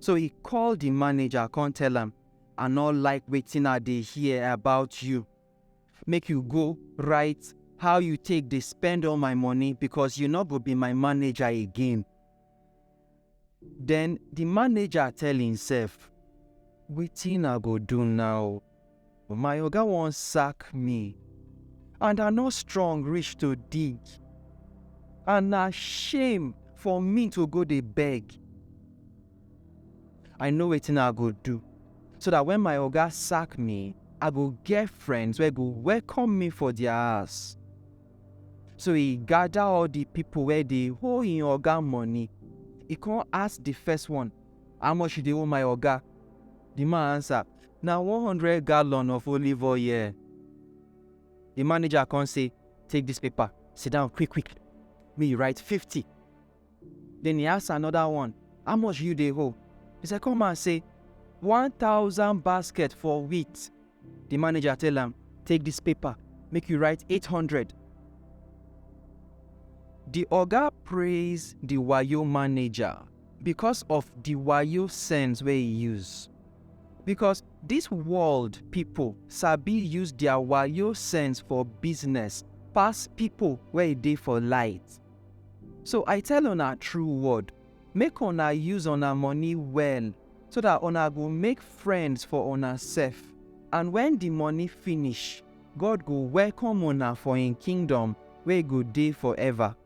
So he call the manager come tell am, I no like wetin I dey hear about you. Make you go write how you take dey spend all my money because you no go be my manager again. Then the manager tell himself, wetin I go do now? My oga wan sack me and I no strong reach to dig and na shame for me to go dey beg. I know wetin I go do so that when my oga sack me, I go get friends wey go welcome me for their house. So he gather all the people wey dey owe him oga money. He come ask the first one, how much you dey owe my oga? The man answer, Na one hundred gallon of olive oil. Di manager kon sey, Take dis paper, sidan quick-quick, make yu write fifty. Den e ask anoda one, How much yu dey owe? Di sekon man sey, One thousand basket for wheat. Di manager tell am, Take dis paper, make yu write eight hundred. Di oga praiz di wayo manager bikos of di wayo sense wey e use. Because this world people sabi use their wayo sense for business pass people wey e dey for light. So I tell una true word, make una use una money well so that una go make friends for una sef and when the money finish, God go welcome una for him kingdom wey go dey forever.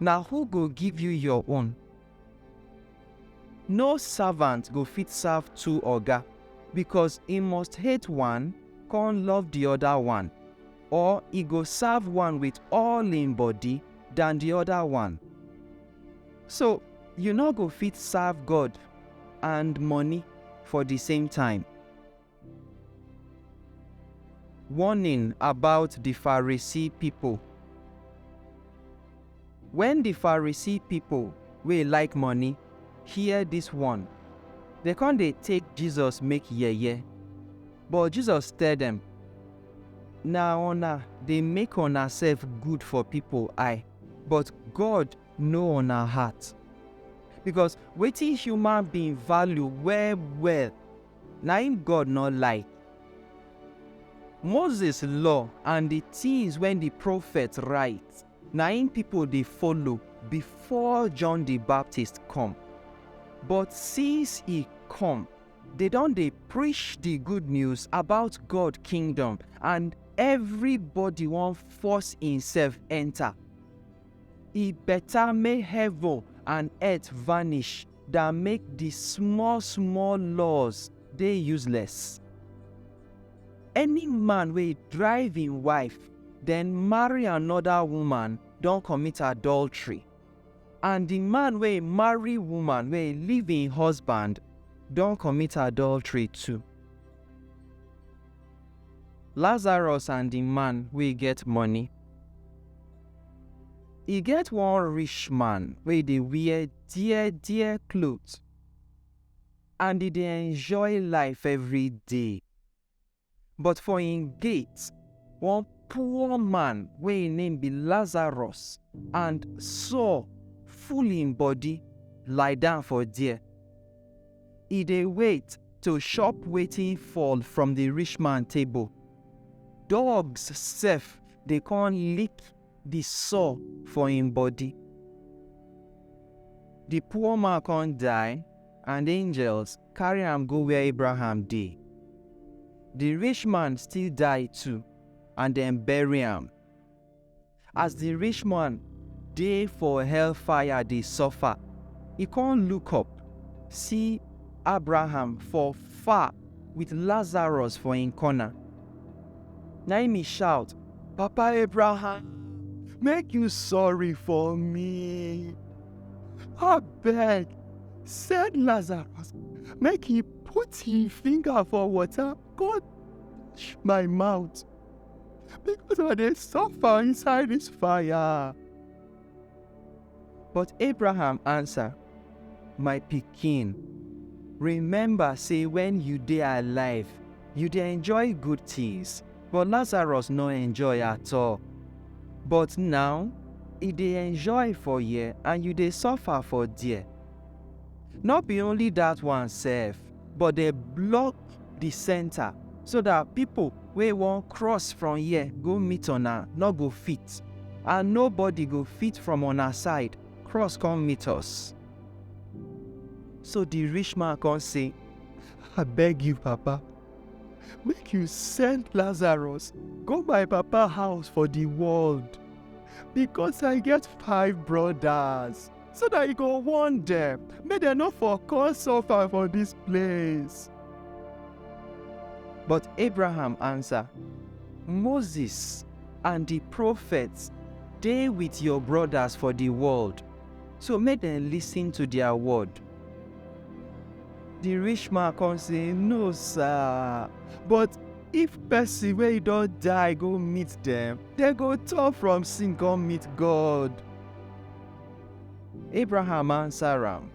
Na who go give you your own? No servant go fit serve two oga, bikos e must hate one kon love di oda one, or e go serve one wit all im body dan di oda one. So, yu nor go fit serve God and moni for di same time. Warning about di Pharisee pipo. Wen di Pharisee pipo wey like money hear dis warn, dem kon dey take Jesus make yeye. But Jesus tell dem, Na una dey make unasef good for pipo eye, but God know una heart. Bikos wetin human being value well-well Na im God nor like. Moses law and di tins wey di profets write na im pipo dey follow before John di Baptist come. But since e come, dey don dey preach di good news about God kingdom and evribodi wan force imsef enta. E beta make heaven and earth vanish da make di small small laws dey useless. Any man wey drive im wife den marry anoda woman don commit adultery, and di man wey marry woman wey leave im husband don commit adultery too. Lazarus and di man wey get money. E get one rich man wey dey wear. dear dear clothes and e dey enjoy life every day. But for im gate, one poor man wey im name be Lazarus and sore full im body lie down for there. E dey wait to chop wetin fall from the rich man table. Dogs sef dey come lick di sore for im body. Di poor man kon die and angels karry am go where Abraham dey. Di rich man still die too and dem bury am. As di rich man dey for hellfire dey suffer, e kon look up, see Abraham for far. with Lazarus for im corner. Na im e shout, Papa Abraham, make you sorry for me. Abeg, send Lazarus make he put him finger for water go touch my mouth because I dey suffer inside this fire. But Abraham ansa, My pikin, rememba sey wen yu dey alive, yu dey enjoy gud tins, but Lazarus nor enjoy at-all. But naw, e dey enjoy for here and yu dey sofa for der. Nor bi only dat one sef, but dem block di centre so dat pipo wey wan cross from here go meet una no go fit and nobody go fit from una side cross come meet us. So di rich man come say, I beg you papa, make you send Lazarus go my papa house for di world, because I get five brodas. so that e go warn dem make dem no for come suffer for dis place. But Abraham answer, Moses and the prophets dey with your brothers for the world, so make dem listen to their word. The rich man come say, No, sir, but if person wey e don die go meet dem, dem go turn from sin come meet God. Abraham answer am,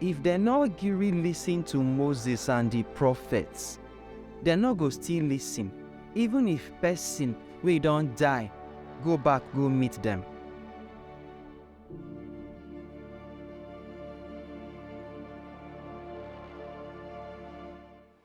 If dem nor gree listen to Moses and di prophets, dem nor go still listen even if pesin wey don die go back go meet dem.